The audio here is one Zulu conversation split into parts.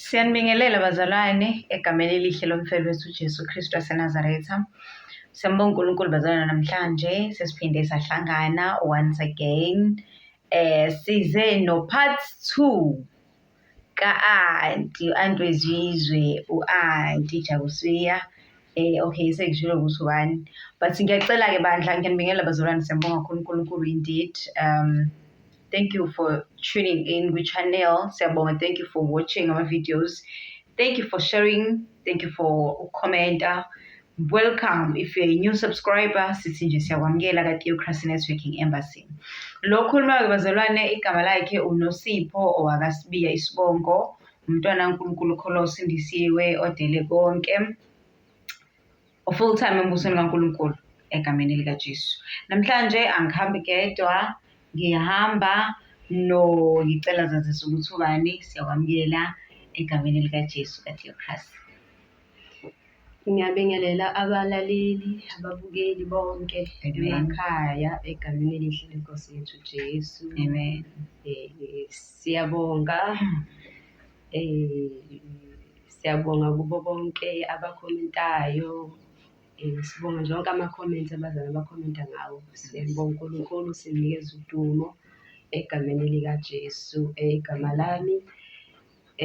Siyanibingelela bazalwane egameni elihle lomfelo wethu uJesu Kristu waseNazaretha. Siyambonga uNkulunkulu bazalwane namhlanje sesiphinde sahlangana once again. Eh size no part 2 ka-anti u-anti wezizwe u-anti Jabusiya eh okay sengishilo ukuthi ubani but ngiyacela-ke bandla ngiyanibingelela bazalwane siyambonga kakhulu uNkulunkulu indeed um Thank you for tuning in with channel. Siyabonga. Thank you for watching our videos. Thank you for sharing. Thank you for commenting. Welcome if you're a new subscriber sithi nje siyakwamukela ka-Theocracy Networking Embassy. Lo khulumayo bazalwane igama lakhe uNosipho owakasibiya isibongo umntwana uNkulunkulu kholo sindisiwe odele konke. ufull time embusweni kaNkulunkulu egameni likaJesu namhlanje angihambi kedwa ngiyahamba no ngicela zazisa ukuthi ubani siyakwamukela egameni likaJesu kaTheokrasi ngiyabingelela abalaleli ababukeli bonke emakhaya egameni elihle lenkosi yethu Jesu amen eh, siyabonga eh Siyabonga kubo bonke abakhomentayo. Eh, sibonga nje wonke amakhomenti abazali abakhomenta ngawo. Siyambonga uNkulunkulu sinikeza udumo egameni likaJesu. Eh, igama lami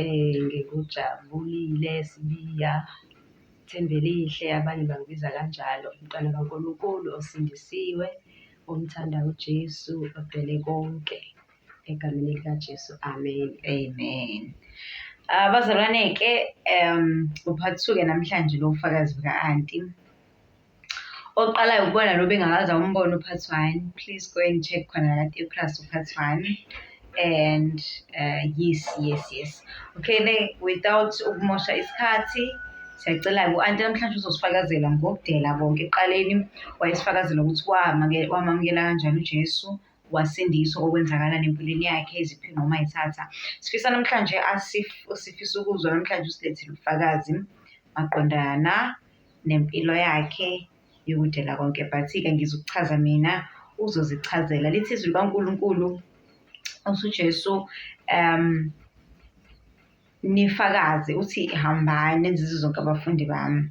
eh ngikujabulile sibiya Thembelihle abanye bangibiza kanjalo umntwana kaNkulunkulu osindisiwe omthanda uJesu odele konke. egameni likaJesu amen amen ah, abazalwane-ke um uphathuke namhlanje lo ufakazi buka-anti oqalayo ukubona lo bengakaza umbona uphathi one please go and check khona kade epras uphathi one and uh, yes yes yes okay ne without ukumosha isikhathi siyacela ku-anti namhlanje uzosifakazela ngokudela konke ekuqaleni wayesifakazela ukuthi wamamukela kanjani ujesu wasindiswa okwenzakala nempilweni yakhe eziphi noma ethatha sifisa namhlanje asif sifisa ukuzwa namhlanje usilethile ubufakazi maqondana nempilo yakhe yokudela konke but-ke ngizokuchaza mina uzozichazela lithi izwi likankulunkulu usujesu um nifakaze uthi hambani nenzize zonke abafundi bami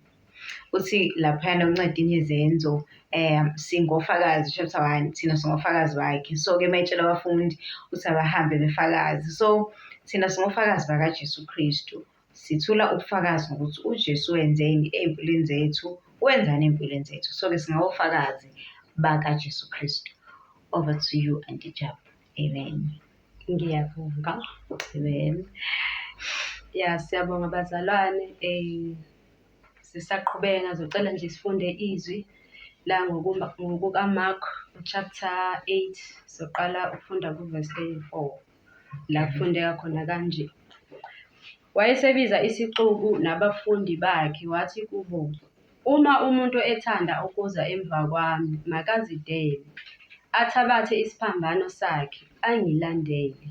uthi laphayana unceda inezenzo um singofakazi chapter one thina singofakazi bakhe so-ke mayitshela abafundi ukuthi abahambe befakazi so thina singofakazi bakajesu kristu sithula ubufakazi ngokuthi ujesu wenzeni ey'mpilweni zethu wenzani ey'mpilweni zethu so-ke singawofakazi bakajesu kristu over to you antijabu Amen. Ngiyabonga. Amen. Ya siyabonga bazalwane eh sisaqhubeka ngazocela nje sifunde izwi la ngokukaMark chapter 8 soqala ukufunda kuverse 34 la kufundeka khona kanje Wayesebiza isixuku nabafundi bakhe wathi kubo, Uma umuntu ethanda ukuza emva kwami, makazidele, athabathe isiphambano sakhe, angilandele.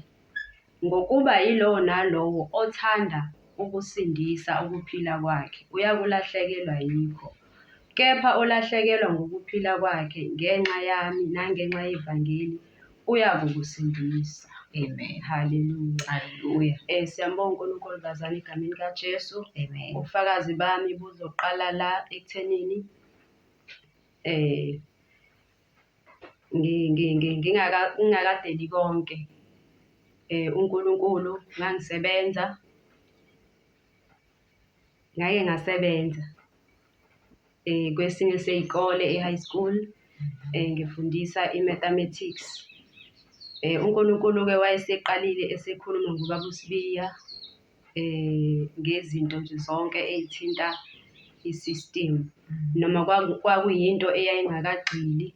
Ngokuba yilowo nalowo othanda ukusindisa ukuphila kwakhe uyakulahlekelwa yikho, kepha olahlekelwa ngukuphila kwakhe ngenxa yami nangenxa yevangeli, uyakukusindisa Amen. Hallelujah. Hallelujah. Eh siyambonga uNkulunkulu bazana egameni kaJesu. Amen. Ubufakazi bami buzoqala la ekuthenini eh ngi- ngi- ngi- ngingaka- ngingakadeli konke eh uNkulunkulu ngangisebenza Ngake ngasebenza kwesinye sey'kole e-high school ngifundisa i-mathematics. UNkulunkulu-ke wayeseqalile esekhuluma ngoBaba uSibiya ngezinto nje zonke ey'thinta i-system noma kwakuyinto eyayingakagxili,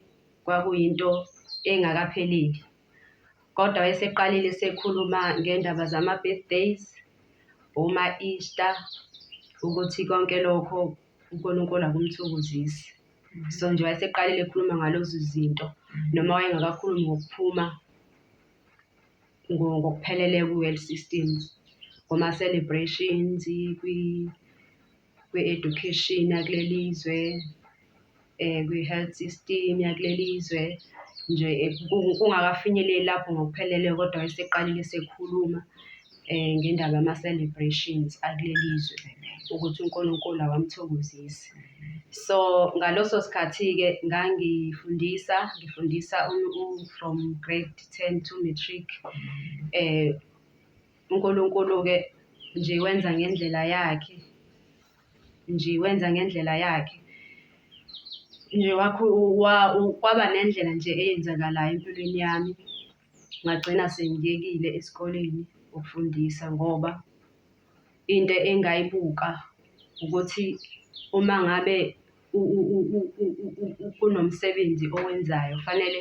kwakuyinto engakapheleli. Kodwa wayeseqalile esekhuluma ngendaba zama-birthdays, oma-Easter, ukuthi konke lokho uNkulunkulu akumthokozisi. So nje wayeseqalile ekhuluma ngalezo zinto noma wayengakakhulumi ngokuphuma ngokuphelele kwi-world systems, kuma-celebrations, kwi. kwi-education yakuleli zwe, kwi-health system yakuleli zwe nje kungakafinyeleli lapho ngokuphelele kodwa eseqalile esekhuluma ngendaba yama-celebrations akuleli zwe ukuthi uNkulunkulu awamthokozisi. So ngaleso sikhathi-ke ngangifundisa, ngifundisa from grade ten to matric . UNkulunkulu-ke nje wenza ngendlela yakhe, nje wenza ngendlela yakhe. Nje wakho kwaba nendlela nje eyenzakalayo empilweni yami, ngagcina sengiyekile esikoleni ukufundisa ngoba into engayibuka ukuthi uma ngabe kunomsebenzi owenzayo fanele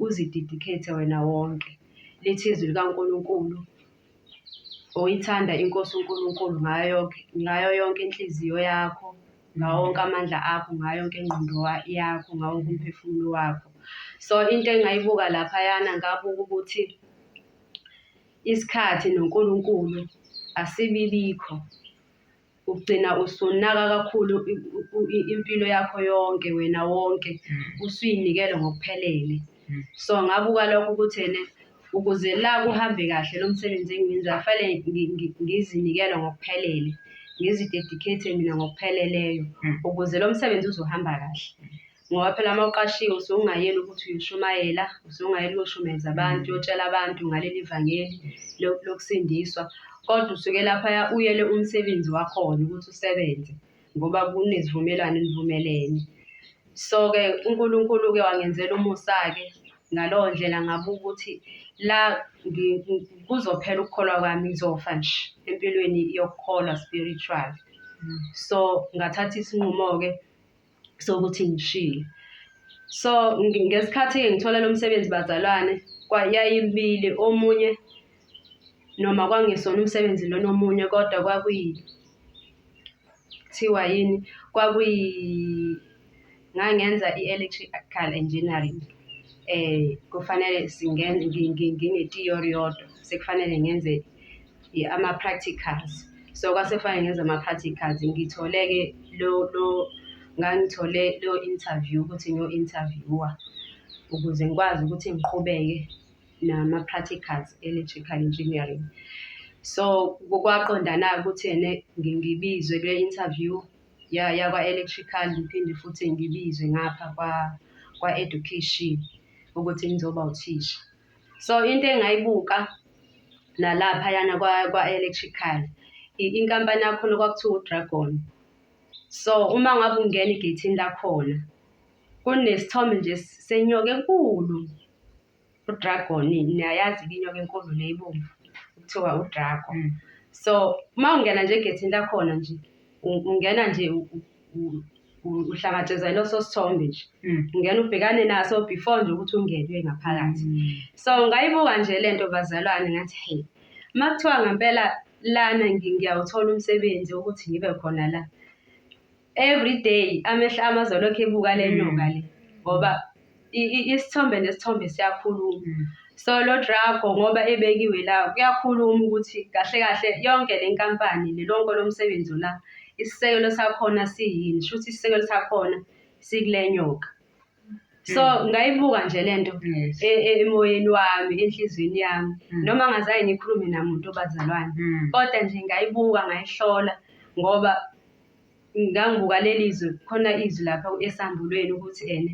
uzididikhethe wena wonke. Lithi izwi likaNkulunkulu, uyithanda iNkosi uNkulunkulu ngayo ngayo yonke inhliziyo yakho, ngawo wonke amandla akho, ngayo yonke ingqondo yakho, ngawo wonke umphefumulo wakho. So into engayibuka laphayana ngabuka ukuthi isikhathi noNkulunkulu asibibikho. ugcina usunaka kakhulu impilo yakho yonke wena wonke mm. usuyinikele ngokuphelele mm. so ngabuka lokho ukuthi ene ukuze la kuhambe kahle lo msebenzi engiwenzayo fanele ngizinikele ngokuphelele ngizidedicate mina ngokupheleleyo mm. ukuze lo msebenzi uzohamba kahle Ngoba phela uma uqashiwe usuke ungayeli ukuthi uyoshumayela, usuke ungayeli uyoshumayeza abantu, uyotshela abantu ngaleli vangeli lokusindiswa. Kodwa usuke laphaya uyele umsebenzi wakhona ukuthi usebenze ngoba kunezivumelwano enivumelene. So-ke uNkulunkulu-ke wangenzela umusa-ke ngaleyo ndlela ngabuka ukuthi la kuzophela ukukholwa kwami ngizofa nje empilweni yokukholwa spiritual. So ngathatha isinqumo-ke sokuthi ngishile so ngesikhathi ngithola lo msebenzi bazalwane yayibili omunye noma kwangesona umsebenzi lona omunye kodwa kwakuyi kuthiwa yini kwakuyi ngangenza i-electrical engineering eh kufanele singene ngine-theory yodwa sekufanele ngenze ama-practicals so kwase kufanele ngenze ama-practicals ngithole-ke lo lo ngangithole lo interview ukuthi ngiyo-interviewer ukuze ngikwazi ukuthi ngiqhubeke nama-practicals electrical engineering so kwaqondana-ke ukuthi ene ngibizwe kule interview yakwa-electrical ngiphinde futhi ngibizwe ngapha kwa-education ukuthi ngizoba uthisha So into engayibuka nalaphayana kwa-electrical inkampani yakhona kwakuthiwa udragon. So uma ngabe ungena egeyithini lakhona kunesithombe nje senyoka enkulu udragon niyayazi-ke inyoka enkulu le ibomvu kuthiwa udragon. Mm. So uma ungena nje egeyithini lakhona nje ungena nje uhlakatshezwa iloso sithombe nje mm. ngena ubhekane naso before nje ukuthi ungenwe ngaphakathi mm. so ngayibuka nje le nto bazalwane ngathi hey uma kuthiwa ngempela lana ngiyawuthola umsebenzi ukuthi ngibe khona la every day amehla amazolokhu ebuka le nyoka le ngoba isithombe nesithombe siyakhuluma mm. so lo drago ngoba ebekiwe la kuyakhuluma ukuthi kahle kahle yonke le nkampani nelonke lomsebenzi ona isisekelo sakhona siyini shuthi isisekelo sakhona sikule nyoka so mm. ngayibuka nje le nto e, e, emoyeni wami enhliziyweni yami mm. noma ngazaye ngikhulume namuntu obazalwane kodwa nje ngayibuka ngayihlola ngoba Ngangibuka leli zwi, khona izwi lapha esambulweni ukuthi ene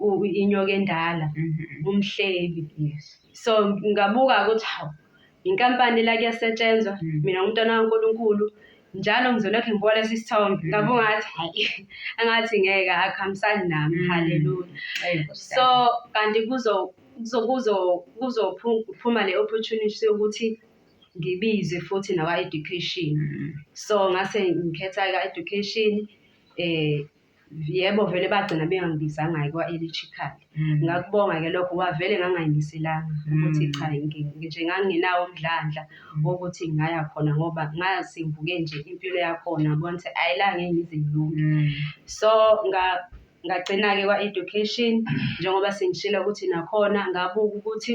u- u- inyoka endala Mhm. umhlebi Yes. so ngabuka ukuthi hawu inkampani la kuyasetshenzwa Mm. mina ngumntwana kaNkulunkulu njalo ngizolokhu ngibuka lesi sithombe Mm. ngabuka ngathi hayi angathi ngeke akuhambisani nami Mm. haleluya Ayi, Nkosi so yami. kanti kuzo kuzo kuzo kuzophuma le opportunity yokuthi ngibize futhi nakwa-education so ngase ngikhetha ika-education eh yebo vele bagcina bengangibizanga-ke kwa-electrical mm. ngakubonga-ke lokho wavele ngangayimiselanga ukuthi mm. cha nje ngangingenawo umdlandla mm. wokuthi ngingaya khona ngoba ngazi ngibuke nje impilo yakhona bona ukuthi ayi la ngeke ngize ngilunge so ngagcina-ke kwa-education njengoba sengishilo ukuthi nakhona ngabuka ukuthi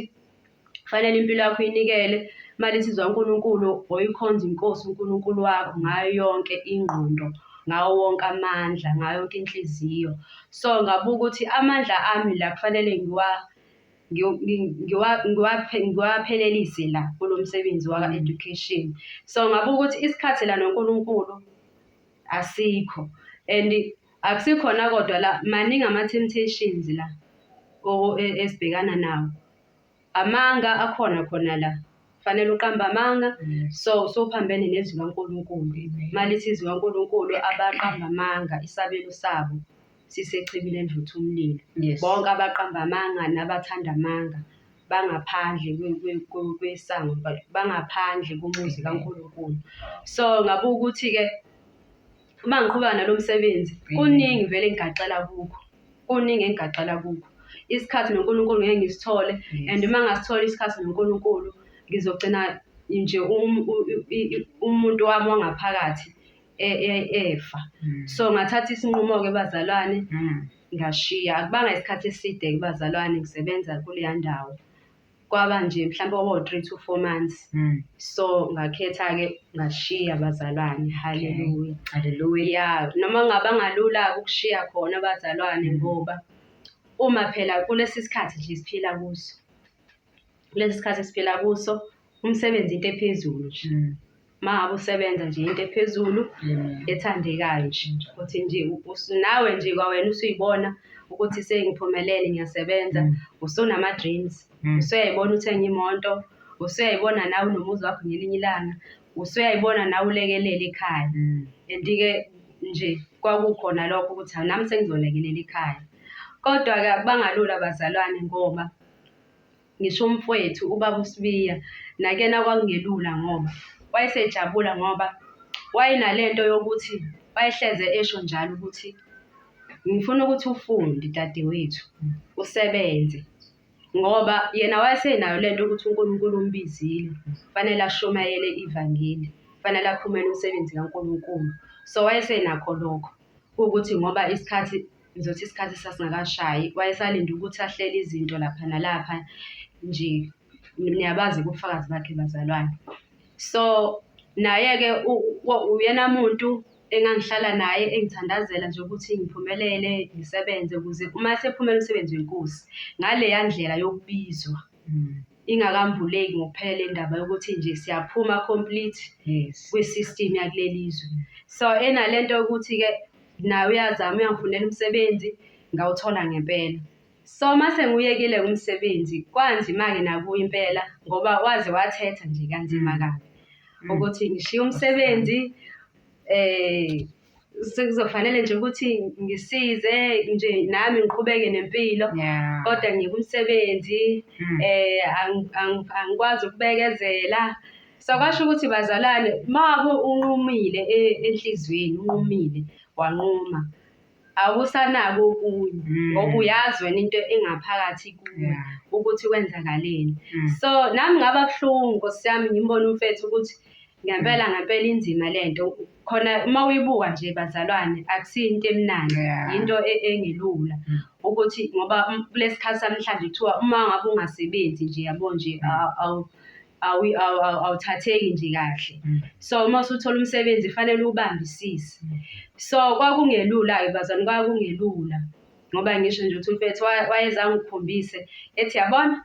Kufanele impilo yakho uyinikele imali insizwa uNkulunkulu oyikhonza inkosi uNkulunkulu wakho ngayo yonke ingqondo ngawo wonke amandla ngayo yonke inhliziyo so ngabuka ukuthi amandla ami la kufanele ngiwa ngiwaphelelise la kulo msebenzi waka-education so ngabuka ukuthi isikhathi la noNkulunkulu asikho and akusikhona kodwa la maningi ama-temptations la e, esibhekana nawo amanga akhona khona la fanele uqambe amanga mm. so sophambene nezwi kaNkulunkulu malithi izwi kaNkulunkulu abaqamba amanga isabelo sabo sisechibini elivutha umlilo Yes. bonke abaqamba amanga nabathanda amanga bangaphandle kwe- kwe- kwe- kwesango ba- bangaphandle komuzi kaNkulunkulu so ngabe ukuthi-ke uma ngiqhubeka nalo msebenzi kuningi vele engigaxela kukho kuningi engigaxela kukho isikhathi nonkulunkulu ngeke ngisithole and uma ngasitholi isikhathi nonkulunkulu ngizogcina nje um- u- i- i- umuntu wami wangaphakathi e- e- efa Mm. so ngathatha isinqumo-ke bazalwane Mm. ngashiya akubanga isikhathi eside kubazalwane ngisebenza kuleya ndawo kwaba nje mhlawumbe kwaba u-three to four months Mm. so ngakhetha-ke ngashiya bazalwane haleluya Hallelujah. ya noma ngaba ngalula-ke ukushiya khona abazalwane Mm. ngoba uma phela kulesi sikhathi nje siphila kuso kulesi sikhathi siphila kuso umsebenzi into ephezulu nje Mm. uma ngabe usebenza nje into ephezulu mm. ethandekayo nje ukuthi nje nawe nje kwawena usuyibona ukuthi sengiphumelele ngiyasebenza mm. usunama-dreams mm. usuyayibona uthenga imoto usuyayibona nawe unomuzi wakho ngelinye ilanga usuyayibona nawe ulekelele ikhaya and-ke nje kwakukhona lokho ukuthi nami sengizolekelela ikhaya kodwa-ke akubangalula bazalwane ngoba Ngisho umfwethu ubaba uSibiya nakena kwakungelula ngoba wayesejabula ngoba wayenalento yokuthi wayehleze esho njalo ukuthi ngifuna ukuthi ufunde dadewethu usebenze ngoba yena wayesenayo lento ukuthi uNkulunkulu umbizile fanele ashumayele ivangeli fanele akhumele umsebenzi kaNkulunkulu so wayesenakho lokho ukuthi ngoba isikhathi Ngizothi isikhathi sasingakashayi, wayesalinde ukuthi ahlele izinto lapha nalapha nje. Niyabazi ubufakazi bakhe bazalwane. So naye-ke uyena muntu engangihlala naye engithandazela nje ukuthi ngiphumelele ngisebenze ukuze uma sephumela umsebenzi wenkosi ngaleya ndlela yokubizwa. ingakambuleki ngokuphelele indaba yokuthi nje siyaphuma complete yes kwi-system yakuleli zwe so enale nto yokuthi-ke naye uyazama uyangifunela umsebenzi ngawuthola ngempela so uma sengiyekile umsebenzi kwanzima-ke nakuye impela ngoba waze wathetha nje kanzima mm. kabi mm. ukuthi ngishiye umsebenzi um sekuzofanele nje ukuthi ngisize nje nami ngiqhubeke nempilo yeah. kodwa ngikumsebenzi mm. eh angikwazi ukubekezela so kwasho ukuthi bazalwane mabo unqumile e-, enhlizweni unqumile wanquma awusanako okunye mm. ngoba uyazi wena into engaphakathi kuwe ukuthi kwenzakaleni mm. so nami ngaba buhlungu nkosi yami ngimbona umfethu ukuthi Ngempela ngempela inzima lento khona uma uyibuka nje bazalwane akusiyo into emnandi yeah. yinto e, engelula mm. ukuthi ngoba um, kulesikhathi samhlanje kuthiwa uma ngabe ungasebenzi nje yabo nje mm. awuthatheki nje kahle mm. so uma usuthola umsebenzi fanele ubambisise mm. so kwakungelula-ke bazalwane kwakungelula ngoba ngisho nje uthi umfethu wayezangikhombise ethi yabona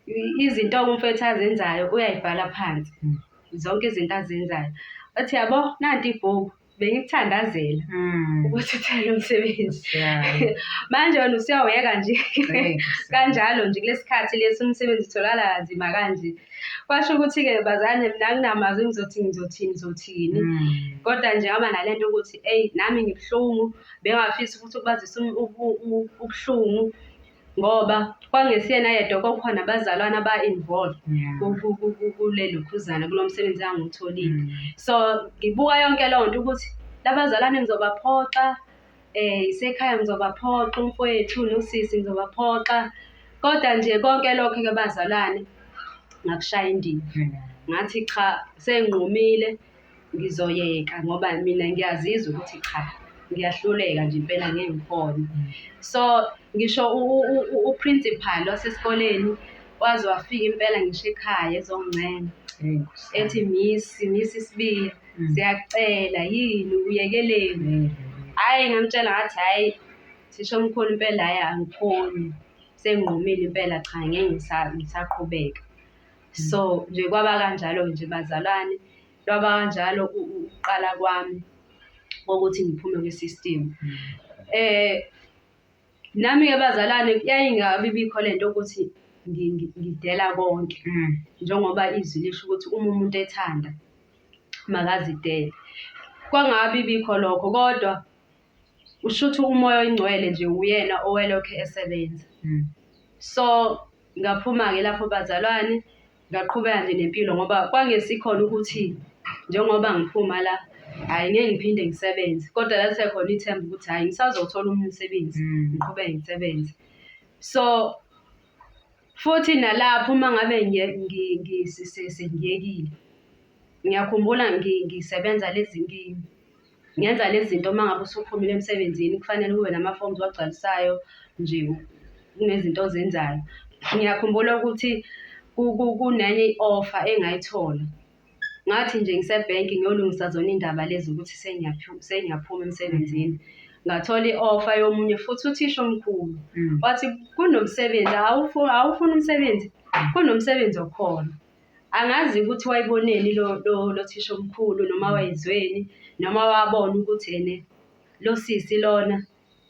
I- izinto umfethu azenzayo uyayibhala phansi Mm. zonke izinto azenzayo athi yabo nanti ibhuku bengikuthandazela Mm. ukuthi uthele umsebenzi Siyabonga. manje wena usuyawuyeka nje Ngeke, kanjalo nje kulesi khathi lesi umsebenzi utholakala kanzima kanje kwasho ukuthi-ke bazane mina nginamazwi ngizothi ngizothini ngizothini Mm. kodwa nje ngaba nale nto ukuthi eyi nami ngibuhlungu bengafisa ukuthi ukubazisa um- ubu- u- ubuhlungu ngoba kwangesiyena yedwa kwakukhona abazalwana aba-involved kule lokhuzana kulo msebenzi angiwutholile mm. so ngibuka yonke leyo nto ukuthi labazalwane ngizobaphoxa um isekhaya ngizobaphoxa umfowethu nosisi ngizobaphoxa kodwa nje konke lokho ke bazalwane ngakushaya indiva ngathi cha senginqumile ngizoyeka ngoba mina ngiyazizwa ukuthi cha ngiyahluleka nje impela ngeke ngikhone so ngisho uprincipal wasesikoleni waze wafika impela ngisho ekhaya ezongincena ethi miss miss isibili mm. siyakucela yini uyekeleni mm. hhayi ngamtshela ngathi hhayi thisha omkhulu impela hhayi angikhoni senginqumile impela cha ngeke ngisaqhubeka so nje kwaba kanjalo nje bazalwane lwaba kanjalo ukuqala kwami kokuthi ngiphume kwi-system eh nami-ke bazalwane yayingabi bikho le nto ukuthi ngidela konke mm. njengoba izwi lisho ukuthi uma umuntu ethanda makazidele kwangabi bikho lokho kodwa Kushuthi umoya oyingcwele nje uyena owelokhe esebenza. Mm. So ngaphuma-ke lapho bazalwane ngaqhubeka nje nempilo ngoba kwangesikhona ukuthi njengoba ngiphuma la hhayi ngeke ngiphinde ngisebenze kodwa lalisekhona ithemba ukuthi hhayi ngisazothola omunye umsebenzi mm. ngiqhubeke ngisebenze so futhi nalapho uma ngabe sengiyekile ngiyakhumbula ngisebenza lezi nkini Ngenza lezi zinto uma ngabe usuphumile emsebenzini kufanele kube nama-forms owagcwalisayo nje kunezinto ozenzayo. Ngiyakhumbula ukuthi kunenye i-offer engayithola ngathi nje ngisebhenki ngiyolungisa zona iy'ndaba lezi ukuthi sengiyaphuma emsebenzini ngathola i-offer yomunye futhi uthisha omkhulu mm. wathi kunomsebenzi awufuni umsebenzi kunomsebenzi okhona Angazi ukuthi wayiboneni lo lo lo thisha omkhulu noma wayizweni noma wabona ukuthi ene lo sisi lona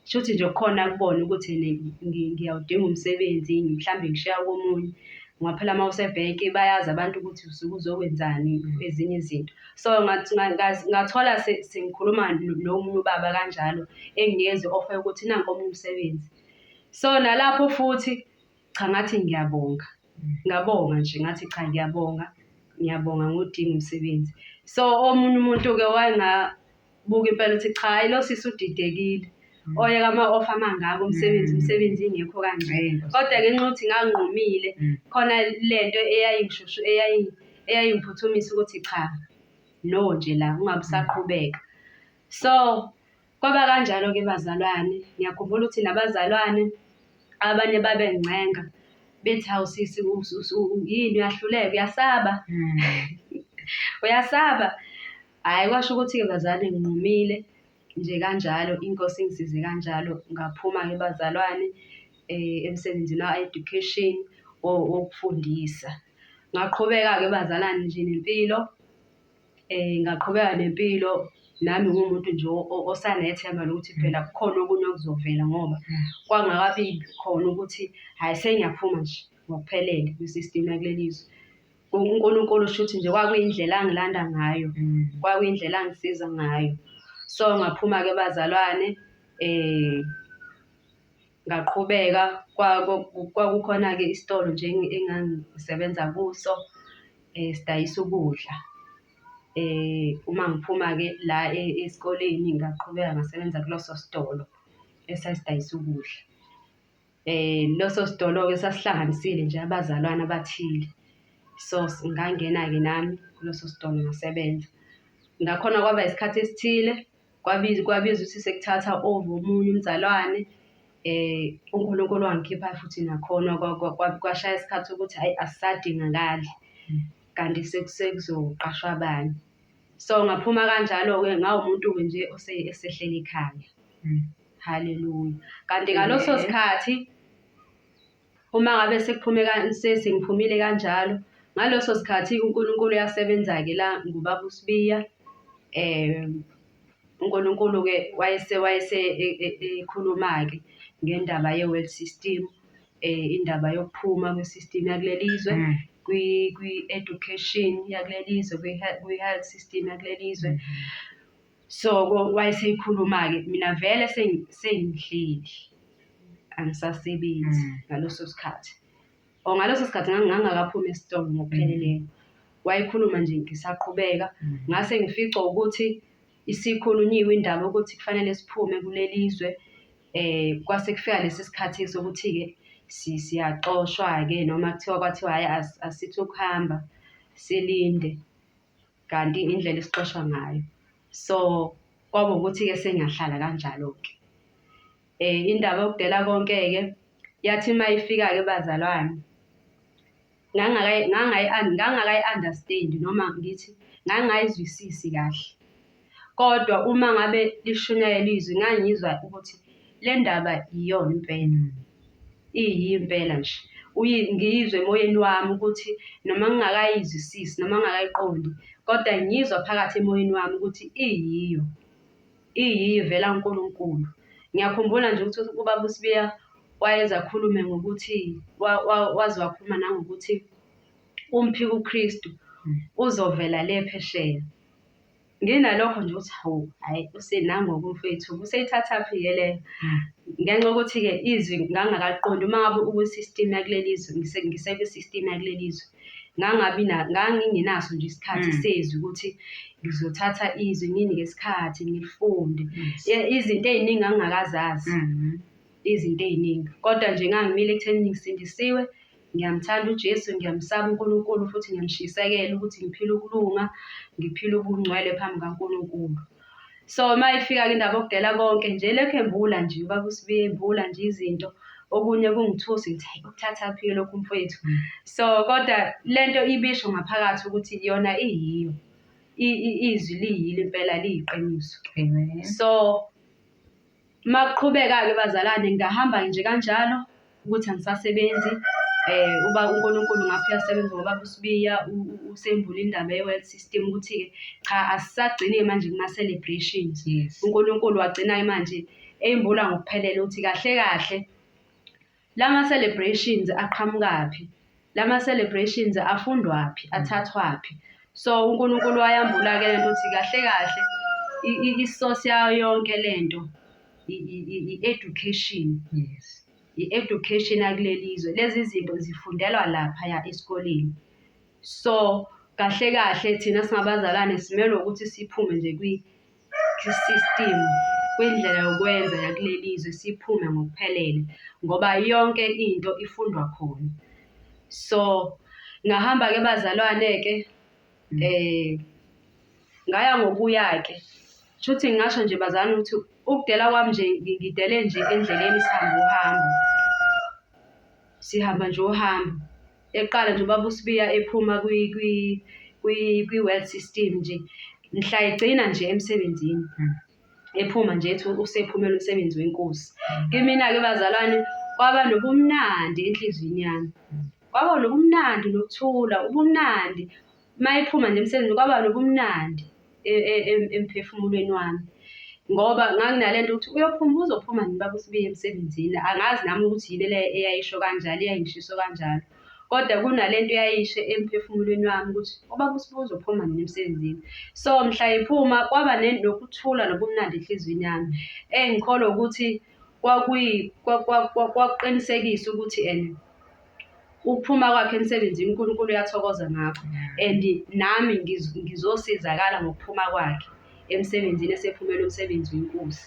shuthi nje kukhona akubona ukuthi ene ngi- ngiyawudinga umsebenzi mhlambe ngishiya komunye ngoba phela uma usebhenki bayazi abantu ukuthi usuke uzokwenzani ezinye izinto so ngath- nga- nga- ngathola se- sengikhuluma no- nomunye ubaba kanjalo engingezi offer ukuthi nanku omunye umsebenzi so nalapho futhi Cha ngathi ngiyabonga. Ngabonga nje ngathi cha ngiyabonga. Ngiyabonga ngodinga umsebenzi. So omunye umuntu-ke wangabuka impela ukuthi cha lo sisi udidekile. Mm. oyeka ama-offer amangaka umsebenzi mm. umsebenzi ingekho kangcela kodwa ngenxa yokuthi nganqumile mm. khona le nto eyayingishushu eyayingiphuthumisa ukuthi cha no nje la ungabe usaqhubeka so Kwaba kanjalo-ke bazalwane. Ngiyakhumbula ukuthi nabazalwane abanye babencenga bethi hawu sisi yini uyahluleka uyasaba hmm. uyasaba hhayi kwasho ukuthi-ke bazalwane nginqumile nje kanjalo inkosi ingisize kanjalo ngaphuma-ke bazalwane um emsebenzini wa-education wokufundisa ngaqhubeka-ke bazalwane nje nempilo um ngaqhubeka nempilo nami ngumuntu nje osanethemba lokuthi mm. phela kukhona okunye okuzovela ngoba mm. kwangakabi khona ukuthi hhayi sengiyaphuma nje ngokuphelele kwi-system yakuleli zwe unkulunkulu shuthi nje kwakuyindlela angilanda ngayo mm. kwakuyindlela angisiza ngayo so ngaphuma-ke bazalwane um Ngaqhubeka kwakukhona-ke isitolo nje engangisebenza kuso um sidayisa ukudla. Um uma ngiphuma-ke la esikoleni ngaqhubeka ngasebenza kuleso sitolo esasidayisa ukudla. Um leso sitolo-ke sasihlanganisile nje abazalwane abathile. So ngangena-ke nami kuleso sitolo ngasebenza. Ngakhona kwaba isikhathi esithile Kwabiza kwabiza ukuthi sekuthatha over omunye umzalwane eh uNkulunkulu wangikhipha futhi nakhona kwashaya isikhathi ukuthi hayi asisadingakali kanti sekuzoqashwa abanye so ngaphuma kanjalo-ke ngawumuntu-ke nje osehleli ekhaya hmm. haleluya kanti ngaleso sikhathi Uma ngabe sekuphume sengiphumile kanjalo, ngaleso sikhathi uNkulunkulu uyasebenza-ke la ngubaba uSibiya. Um uNkulunkulu-ke wayese wayese e, e, ekhuluma-ke ngendaba ye-world system, um indaba yokuphuma kwe-system yakuleli zwe mm. kwi-education yakuleli zwe, kwi-health system yakuleli zwe. Mm. Soko wayeseyikhuluma-ke mina vele sengihleli angisasebenzi mm. ngaleso sikhathi or ngaleso sikhathi ngangingakaphumi esitolo ngokupheleleyo mm. wayekhuluma nje ngisaqhubeka mm. ngase ngificwa ukuthi isikhulunyiwe indaba ukuthi kufanele siphume kuleli zwe eh kwase kufika lesi sikhathi sokuthi-ke siyaxoshwa-ke noma kuthiwa kwathiwa hhayi asithi ukuhamba silinde kanti indlela esixoshwa ngayo so kwaba ukuthi-ke sengiyahlala kanjalo-ke um indaba yokudela konke-ke yathi uma ifika-ke bazalwane ngangakayi-understand-i noma ngithi ngangingayizwisisi kahle. kodwa uma ngabe lishunyayelwa izwi ngangizwa ukuthi le ndaba iyona impela, iyiyo impela nje. Ngiyizwe emoyeni wami ukuthi noma ngingakayizwisisi noma ngingakayiqondi kodwa ngiyizwa phakathi emoyeni wami ukuthi iyiyo, iyiyo ivela kuNkulunkulu. Ngiyakhumbula nje ukuthi ubaba uSibiya wayeze akhulume ngokuthi waze wakhuluma nangokuthi umphik'uKristu uzovela le phesheya. Nginalokho nje ukuthi hawu hhayi usenangoku umfwethu useyithathaphi ke le ngenxa yokuthi-ke izwi ngangakaliqondi uma ngabe ukwi-system yakuleli zwe ngisekwi-system yakuleli zwe ngangabi ngangingenaso nje isikhathi mm. sezwi ukuthi ngizothatha izwi ngini ngesikhathi ngilifunde izinto ey'ningi angingakazazi mm-hmm. izinto ey'ningi kodwa nje ngangimile ekutheni ngisindisiwe Ngiyamthanda uJesu, ngiyamsaba uNkulunkulu futhi ngiyamshisekela ukuthi ngiphile ukulunga, ngiphile ubungcwele phambi kaNkulunkulu. So uma ifika ke indaba yokudela konke nje lekhu embula nje ubaba uSibiya embula nje izinto okunye kungithusa ngithi hayi ukuthathaphi lokhu mfowethu. Mm. So kodwa le nto ibisho ngaphakathi ukuthi yona iyiyo izwi liyilo impela liyiqiniso. So Uma kuqhubeka-ke bazalwane ngingahamba nje kanjalo ukuthi angisasebenzi. Uba uNkulunkulu ngapha uyasebenza ngoBaba uSibiya usembule indaba ye-world system ukuthi-ke cha asisagcini-ke manje kuma-celebrations. Yes. UNkulunkulu wagcina-ke manje eyimbula ngokuphelele ukuthi kahle kahle Lama celebrations aqhamukaphi? Lama celebrations afundwaphi? Athathwaphi? So uNkulunkulu wayambula-ke lento ukuthi kahle kahle i-source yayo yonke lento i-education. Yes. I-education yakuleli zwe. Lezi zinto zifundelwa laphaya esikoleni. So kahle kahle thina singabazalwane simelwe ukuthi siphume nje kwi isistimu kwindlela yokwenza yakuleli zwe siphume ngokuphelele ngoba yonke into ifundwa khona. So ngahamba-ke bazalwane-ke um ngaya ngokuya-ke shuthi ngingasho nje bazalwane ukuthi ukudela kwami nje ngidele nje endleleni sihambe uhambo, sihamba nje uhambo. Eqala nje ubaba uSibiya ephuma kwi-world system nje, mhla egcina nje emsebenzini hmm. ephuma nje ethi usephumela umsebenzi wenkosi. Kimina-ke bazalwane kwaba nobumnandi enhliziyweni yami, kwaba nobumnandi nokuthula, ubumnandi uma ephuma nje emsebenzini kwaba nobumnandi e, e, e, emphefumulweni wami ngoba nganginale nto ukuthi uyophuma uzophuma nini baba usubiye emsebenzini angazi nami ukuthi yini le eyayisho kanjalo eyayingishiso kanjalo kodwa kunale nto eyayishe emphefumulweni wami ukuthi ubaba usibuya uzophuma nini emsebenzini so mhla ephuma kwaba nokuthula nobumnandi enhliziyweni yami engikholwa ukuthi kwakuqinisekisa ukuthi and ukuphuma kwakhe emsebenzini uNkulunkulu uyathokoza ngakho and nami ngizosizakala ngokuphuma kwakhe emsebenzini esephumela umsebenzi wenkosi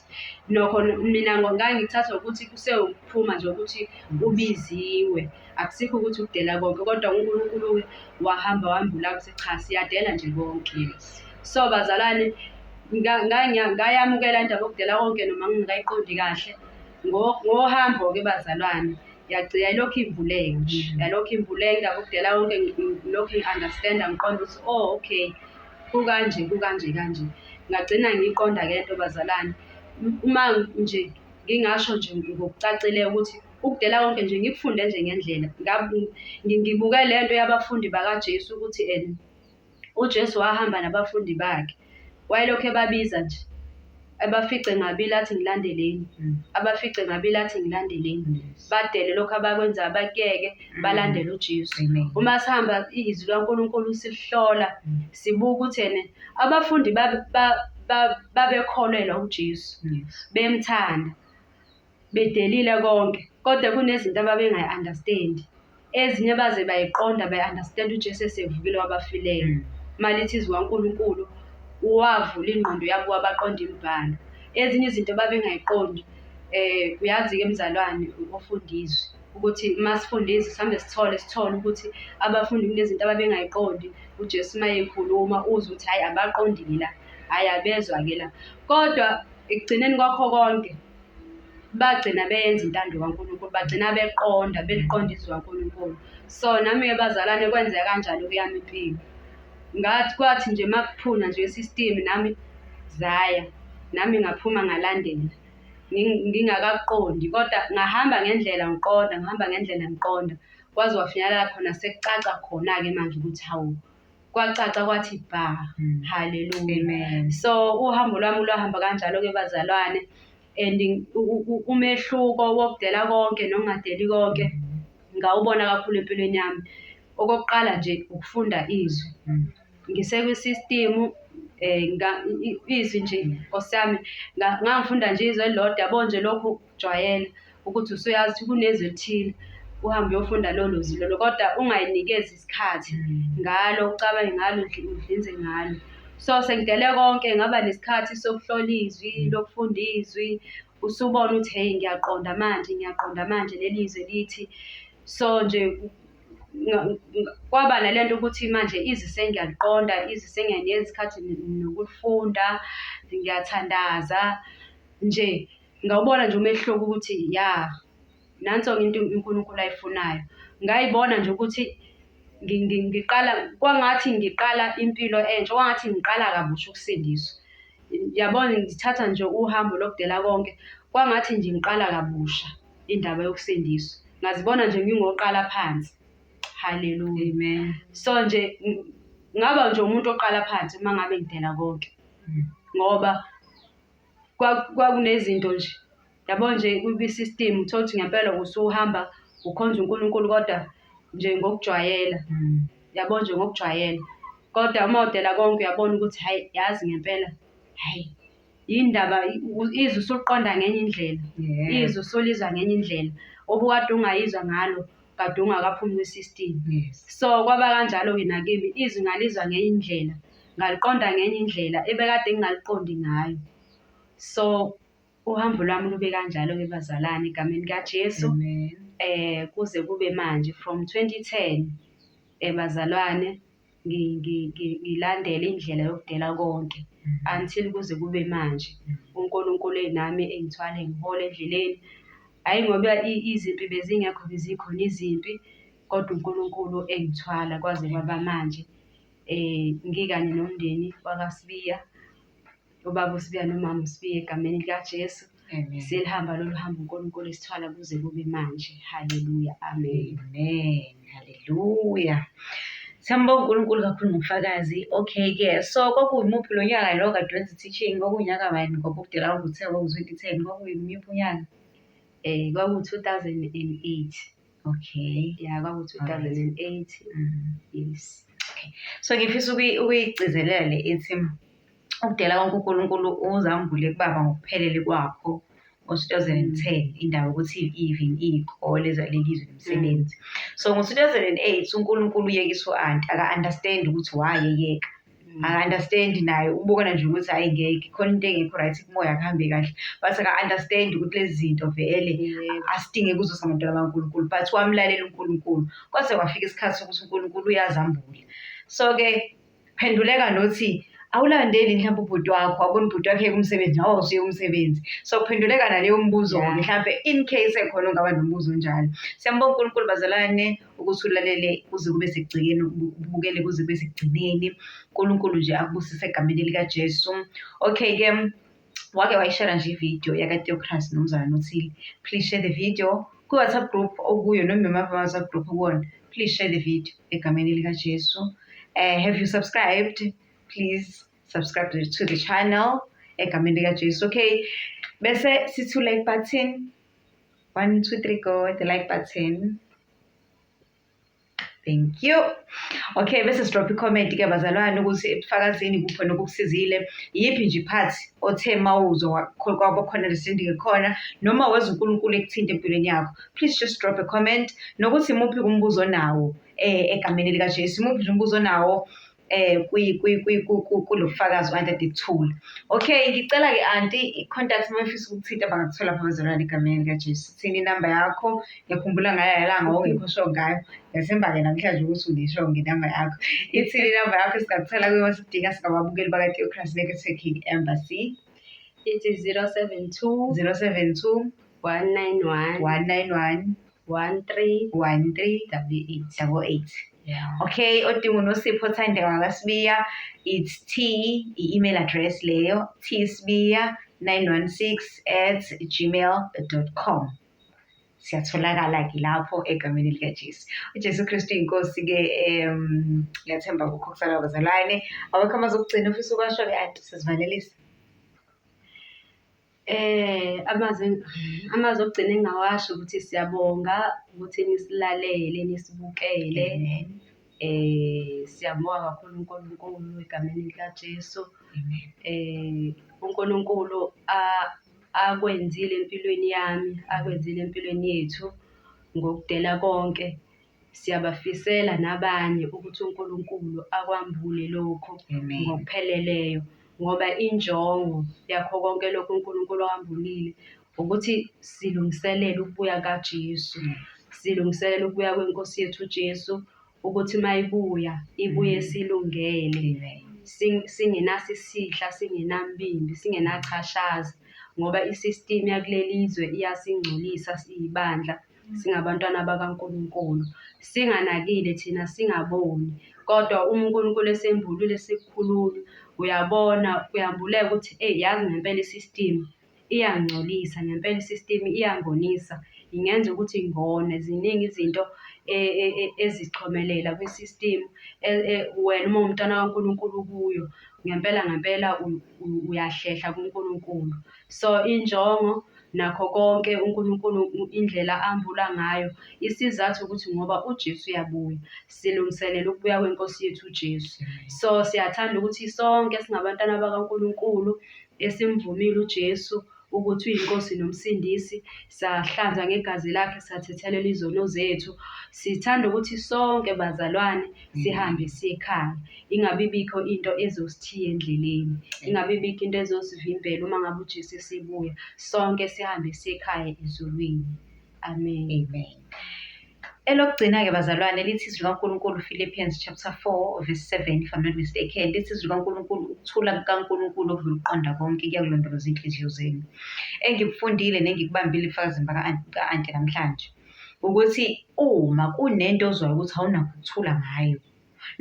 nokho mina ngangithatha ukuthi kusewukuphuma nje ukuthi ubiziwe. Akusikho ukuthi ukudela konke kodwa uNkulunkulu wahamba wambula ukuthi cha siyadela nje konke. So bazalwane ngayamukela indaba yokudela konke noma ngingakayiqondi kahle ngohambo-ke bazalwane yagcina ilokhu ivuleka nje mm. yalokhu ivuleka indaba yokudela konke ngilokhu ngi-understanda ngiqonda ukuthi o oh, okay kukanje kukanje kanje ngagcina ngiyiqonda-ke lento bazalwane uma nje ngingasho nje ngokucacile ukuthi ukudela konke nje ngikufunde nje ngendlela ngibuke le nto yabafundi bakajesu ukuthi and ujesu wahamba nabafundi bakhe wayelokhu ebabiza nje abafice ngabili athi ngilandeleni mm. abafice ngabili athi ngilandeleni badele lokho abakwenzayo bakuyeke mm. balandele uJesu uma sihamba izwi laNkulunkulu silihlola mm. sibuka ukuthi ene abafundi babekholelwa uJesu bemthanda bedelile konke kodwa kunezinto ababengayi understand ezinye baze bayiqonda bayi understand uJesu esevukile wabafileyo hmm. malithi izwi kaNkulunkulu wavula ingqondo yabo wabaqonda imibhalo ezinye izinto babengayiqondi eh uyazi ke mzalwane ofundizwe ukuthi masifundise sihambe sithole sithole ukuthi abafundi kunezinto ababengayiqondi uJesu mayekhuluma uzwe ukuthi hayi abaqondile la hayi abezwa ke la kodwa ekugcineni kwakho konke bagcina beyenza intando kaNkulunkulu, bagcina beqonda, beliqonda izwi kaNkulunkulu. So nami-ke bazalwane kwenzeka kanjalo kuyami impilo. Ngathi kwathi nje uma kuphuna nje i-system nami zaya, nami ngaphuma ngalandela ngingakakuqondi kodwa ngahamba ngendlela ngiqonda, ngihamba ngendlela ngiqonda kwaze kwafinyelela khona sekucaca khona-ke manje ukuthi hawu. kwacaca kwathi bha mm. haleluya so uhambo lwami lwahamba kanjalo-ke bazalwane and umehluko wokudela konke nokungadeli konke mm. ngawubona kakhulu empilweni yami okokuqala nje ukufunda izwi mm. ngisekwisystem eh izwi nje nkosiyami ngangifunda nje izwe elilodwa yabo nje lokhu jwayela ukuthi usuyazi ukuthi kunezwi elithile uhambe uyofunda lolo lwazi lolo kodwa ungayinikezi isikhathi ngalo ucabange ngalo udlinze ngalo so sengidele konke ngaba nesikhathi sokuhlola izwi lokufunda izwi usubona ukuthi heyi ngiyaqonda manje ngiyaqonda manje leli zwi lithi so nje kwaba nale nto ukuthi manje izwi sengiyaliqonda izwi sengiyanikeza isikhathi nokulifunda ngiyathandaza nje Ngawubona nje umehluko ukuthi ya nanso-ke into uNkulunkulu ayifunayo. Ngayibona nje ukuthi ngiqala kwangathi ngiqala impilo entsha, kwangathi ngiqala kabusha ukusindiswa. Yabona ngithatha nje uhambo lokudela konke, kwangathi nje ngiqala kabusha indaba yokusindiswa. Ngazibona nje ngingoqala phansi. Haleluya. Amen. So nje ngaba nje umuntu oqala phansi uma ngabe ngidela konke ngoba kwakunezinto nje yabo nje kwi-system uthole ukuthi ngempela usuhamba ukhonza uNkulunkulu kodwa nje ngokujwayela mm. yabo nje ngokujwayela kodwa uma udela konke uyabona ukuthi hayi yazi ngempela hayi yindaba izwe usuliqonda ngenye indlela izwe usulizwa ngenye indlela obukade ungayizwa ngalo kade ungakaphumi kwi-system so kwaba kanjalo-ke nakimi izwi ngalizwa ngenye indlela ngaliqonda ngenye indlela ebekade ngingaliqondi ngayo so uhambo lwami lube kanjalo-ke bazalwane egameni kaJesu um eh, kuze kube manje from 2010 um eh, bazalwane ngilandele indlela yokudela konke mm. until kuze kube manje mm. uNkulunkulu enami engithwale ngihole endleleni hhayi ngoba izimpi bezingekho bezikhona izimpi kodwa uNkulunkulu engithwala kwaze kwaba manje um ngikanye nomndeni wakasibiya ubaba usibiya nomama usibiya egameni likajesu Amen. selihamba lolu hambo unkulunkulu esithwala kuze kube manje haleluya amen Amen. Hallelujah. Siyambonga uNkulunkulu kakhulu ngobufakazi. Okay ke. So kwakuwumuphi lo nyaka lo kade wenza teaching kwakunyaka bani ngoba ukudela ukuthi kwaku 2010 kwakuyimuphi unyaka? um kwaku-2008 Okay. Yeah, kwakuthi Alright. 2008. Mhm. Yes. So ngifisa ukuyi- ukuyigcizelela le ithi ukudela konke uNkulunkulu uzambule kubaba ngokuphelele kwakho ngo-2010 indawo ukuthi even iy'kole zalelizwe nomsebenzi so ngo-2008 uNkulunkulu uyekisa u-anti aka-understand ukuthi why eyeka Mm. aka-understand naye ubukana nje ukuthi hayi ngeke khona into engekho right kumoya kuhambe kahle but aka-understand ukuthi lezi zinto vele asidinge kuzo samantwana bankulunkulu but wamlalela unkulunkulu kwaze kwafika isikhathi sokuthi unkulunkulu uyazambula so-ke phenduleka nothi awulandeli mhlawumbe ubhuti wakho abona ubhuti wakhe kumsebenzi nawe usuye umsebenzi so kuphenduleka naleyo mbuzo-ke mhlawumbe in case ekhona ongaba nombuzo onjalo siyambonga unkulunkulu bazalane ukuthi ulalele kuze kube sekugcikeni ubukele kuze kube sekugcineni unkulunkulu nje akubusise egameni likajesu okay ke wake wayishera nje ividiyo yakateocrasi nomzana nothile please share the video kwi-whatsapp group okuyo noma imava whatsapp group kuwona please share the video egameni likajesu um have you subscribed please subscribe to the channel egameni likajesu okay bese sithula ibutton One, two, three, go. The like button. Thank you. Okay, bese sidrop i-comment ke bazalwane ukuthi ebufakazini kukhona okukusizile. Yiphi nje part othe mawuzo kwaba khona lesindike khona noma weza uNkulunkulu ekuthinte empilweni yakho. Please just drop a comment nokuthi muphi umbuzo nawo eh egameni lika Jesu. Muphi umbuzo nawo eh kulo bufakazi anti adikuthula okay ngicela-ke anti i-contact uma ufisa ukuthinta bangakuthola phakazolwana egameni likajesu thina inamba yakho ngiyakhumbula ngayo yalanga ongekho sho ngayo ngiyathemba-ke namhlanje ukuthi unisho ngenamba yakho ithini inamba yakho singakuthola kuyoma sidinga singababukeli bakateocras nekethekini embassy ithi 072 072 191 191 one three one three double eight double eight yeah. okay odinga unosipho othande ngakasibiya it's t i-email address leyo t sibiya 916 at gmail dot com siyatholakala-ke lapho egameni likajesu ujesu kristu yinkosi-ke um ngiyathemba kukho kusala bazalwane awekho amazokugcina ofisa ukwasho-ke anti sizivalelisa Amazwi amazwi okugcina engingawasho ukuthi siyabonga ukuthi nisilalele, nisibukele. Siyamubonga kakhulu uNkulunkulu egameni likaJesu. UNkulunkulu akwenzile empilweni yami, akwenzile empilweni yethu ngokudela konke. Siyabafisela nabanye ukuthi uNkulunkulu akwambule lokho Amen. ngokupheleleyo ngoba injongo yakho konke lokho uNkulunkulu awambulile ukuthi silungiselele ukubuya kaJesu. Silungiselele ukubuya kweNkosi yethu uJesu ukuthi mayibuya ibuye mm. silungele. Singenaso isihla, singenambimbi, singenachashazi ngoba i-system yakuleli zwe iyasingcolisa siyibandla. singabantwana bakaNkulunkulu, singanakile thina singaboni. Kodwa uma uNkulunkulu esembulule sikukhulula, uyabona kuyambuleka ukuthi eyi yazi ngempela i-system iyangcolisa, ngempela i-system iyangonisa, ingenza ukuthi ngone. Ziningi izinto ezichomelela kwi-system wena uma uwumntwana kaNkulunkulu ukuyo, ngempela ngempela uyahlehla kuNkulunkulu. So, injongo Nakho konke uNkulunkulu indlela ambula ngayo, isizathu ukuthi ngoba uJesu uyabuya. Silungiselela ukubuya kweNkosi yethu uJesu. So siyathanda ukuthi sonke singabantwana bakaNkulunkulu esimvumile uJesu ukuthi uyiNkosi noMsindisi, sahlanzwa ngegazi lakhe, sathethelela izono zethu. Sithanda ukuthi sonke bazalwane sihambe siye ekhaya. Ingabe ibikho into ezosithiya endleleni, ingabe ibikho into ezosivimbela uma ngabe uJesu esebuya. Sonke sihambe siye ekhaya ezulwini. Amen. Amen. Elokugcina-ke bazalwane lithi izwi likaNkulunkulu Philippians chapter 4 verse 7 if I'm not mistaken lithi izwi likaNkulunkulu ukuthula kukaNkulunkulu okudlula ukuqonda konke kuyakulondoloza inhliziyo zenu. Engikufundile nengikubambile ebufakazini baka-anti namhlanje ukuthi uma kunento ozwayo ukuthi awunakho ukuthula ngayo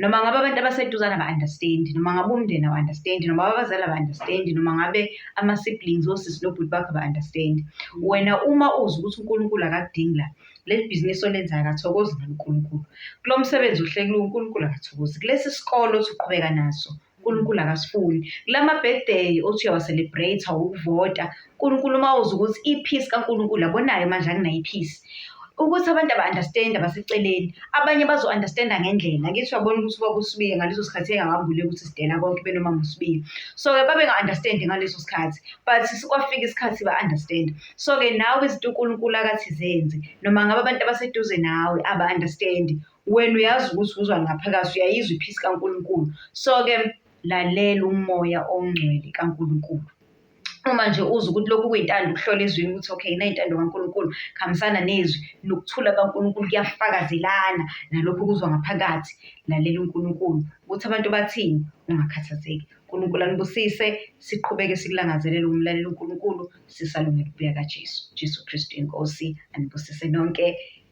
noma ngabe abantu abaseduzane aba-understand noma ngabe umndeni awu-understand noma ngabe abazali aba-understand noma ngabe ama-siblings osisi nobhuti bakho aba-understand wena uma uzi ukuthi unkulunkulu akakudingi la leli bhizinisi olenzayo akathokozi ngalo unkulunkulu kulo msebenzi uhlekile unkulunkulu akathokozi kulesi sikole othi uqhubeka naso uNkulunkulu akasifuni kulama birthday othi uyawa-celebrate ukuvota uNkulunkulu uma uza ukuthi i-peace kaNkulunkulu abonayo manje anginayo i-peace ukuthi abantu aba-understand abaseceleni abanye bazo-understanda ngendlela ngithi uyabona ukuthi ubaba usibiye ngaleso sikhathi engakambuleki ukuthi sidela konke benoma musibiye so-ke babenga-understandi ngaleso sikhathi but kwafika isikhathi ba-understand so-ke nawe izinto unkulunkulu akathi zenzi noma ngabe abantu abaseduze nawe aba-understandi wena uyazi ukuthi uzwa ngaphakathi uyayizwa iphisi kaNkulunkulu so-ke lalela umoya ongcwele kaNkulunkulu uma nje uza ukuthi lokhu kuyintando ukuhlola ezwini ukuthi okay nayintando kaNkulunkulu khambisana nezwi nokuthula kaNkulunkulu kuyafakazelana nalokho kuzwa ngaphakathi lalela uNkulunkulu ukuthi abantu bathini ungakhathazeki uNkulunkulu anibusise siqhubeke sikulangazelele umlaleli uNkulunkulu sisalungele ukubuya kaJesu Jesu Kristu inkosi anibusise nonke